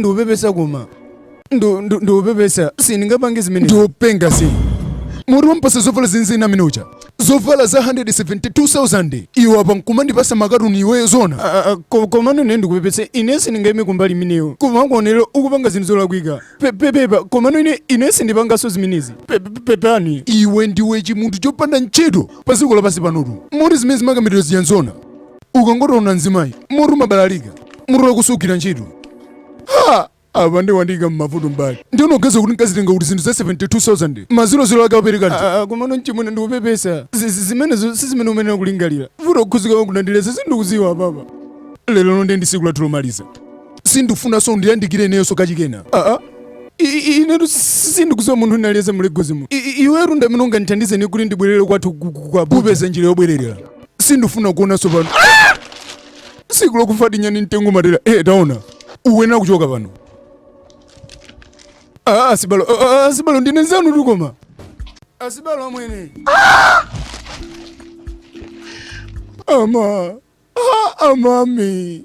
ndupepesa koma Ndu- ndu- ndupepesa sindingapange zimene ndiopenga si Moti wampasa zovala mzimayi amene uja zovala za 172000 iwo apa nkumandipasa makatuni iweyo zona Ah, ah, ko- komano ine ndikupepesa ine sindingaime kumbali imeneyo koma kungoonera ukupanga zinthu zolakwika Pe- pe- pepa komano ine sindipanganso zimenezi Pe- pe- pepani iwe ndiwe chimunthu chopanda ntchito pa dziko lapansi panotu moti zimene zimenezi makamuliro ziyanzona ukangotaona mzimayi mutu umabalalika mutu wakusukira ntchito ha apa nde wandiika mmavuto mbali ndiye unaganiza kuti nkazitenga kuti zinthu za 72000 maziro ziro ake apereka komano mchimwene ndikupepesa Zi- zi- zimenezo si zimene umenera kulingalira Uto kukhuzika kwako unandilesa sindikuziwa apapa lero lomwe nde ndi siku lathu lomaliza sindifunanso undiyandikire ineyonso kachikena aa I- i- inetu si- sindikuziwa munthu ndinaliyese mu Lagos muno iwetu ndamene ungandithandize ni kuti ndibwerere kwathu ku- ku- ku Abuja. kupeza njira yobwererera sindifuna kuonanso pano Ah! siku lokufa tinyani mtengo matera eh taona uyenera kuchoka pano Ah, asibalo ah, ah, asibalo ndine nzanu tu koma asibalo amwene ama ah, amami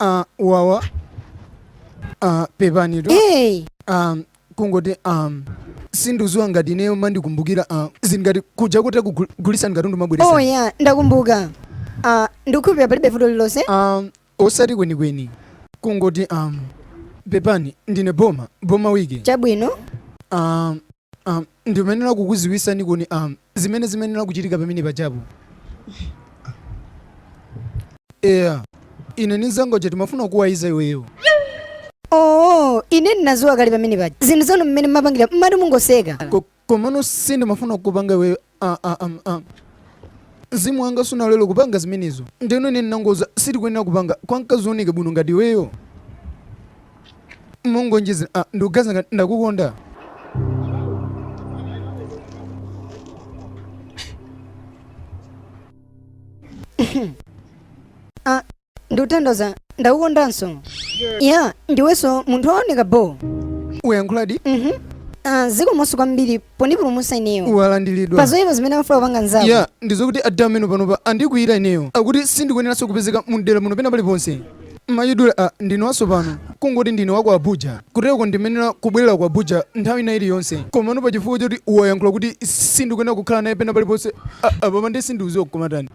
Ah, wawa Ah, pepanitu hey. um, kungoti um, sindiuziwa ngati ineyo mandikumbukira uh, zingati kuja kutikugulisani katundu mmabweresa oh ya ndakumbuka uh, ndikukhulupira palibe vuto lilonse um, Osati kwenikweni, kungoti, um, pepani, ndine Boma, Boma Wike. Chabwino. Um, um, ndimenera kukuziwisani kuti um, zimene zimenera kuchitika pamene pajapo. Eya, ine ni nzanga uja tmafuna kuwaliza iweyo. Oh, ine ndinaziwa kale pamene paja. Zinthu zanu mmene mmapangira mmati mungoseka. Ko- Komano sindimafuna kukupanga iweyo aah amm aah Mzimu wanga sunalole kupanga zimenezo ndeno ine ndinangomuuza sitikuyenera kupanga kwa mkazi wooneka bwino ngati iweyo Mongonjezera aah ndikuganiza ngati ndakukonda. Aah ndikuthandauza ndakukondanso ya ndiwenso munthu wooneka bo uyankhuladi Mhm. Ah, zikomoso kwambiri pondipulumutsa ineyo walandiridwa pazoyipa zimene amafuna kupanga nzako ya ndizokuti adawa mmene panopa andikwiyira ineyo akuti sindikuyeneranso kupezeka mumdera muno pena paliponse mayidiwa a ndine watsopano kungoti ndine waku abuja kutereko ndimenera kubwerera ku abuja nthawi ina iliyonse komano pa chifukwa choti uwayankhula kuti sindikuyenera kukhala naye pena paliponse a- apapa ndi sindiuziwa kuti koma ntani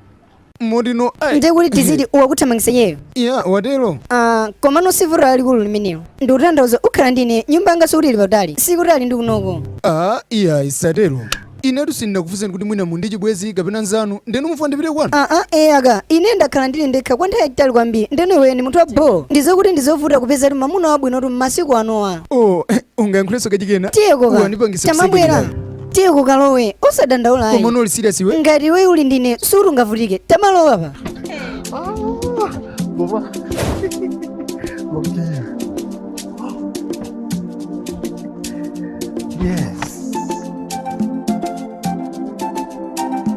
motino ndiye kuti tiziti wakuthamangisa iyeyo ya watero Ah, komano sivuto lalikulu limenelo ndikutanthauza uzikhala ndine nyumba yanga sikuti ili patali sikutali ndi kunoko ayi isatero inetu sindinakufunseni kuti mwina muli ndi chibwenzi kapena nzanu ndeno mufuna ndipite kwanu aa ee aka ine ndakhala ndili ndekha kwa nthawi yayitali kwambiri ndeno iwe ndi munthu wa bho ndizokuti ndizovuta kupezatu mamuna wabwinotu m'masiku anowa o ungayankhulenso kachikena tiyeko ka Uwanipangisa tamabwera kusekerera. tiye ukalowe osadandaula ayi. komano uli serious iwe ngati iwe uli ndine suti ungavutike tamalowapa Yes.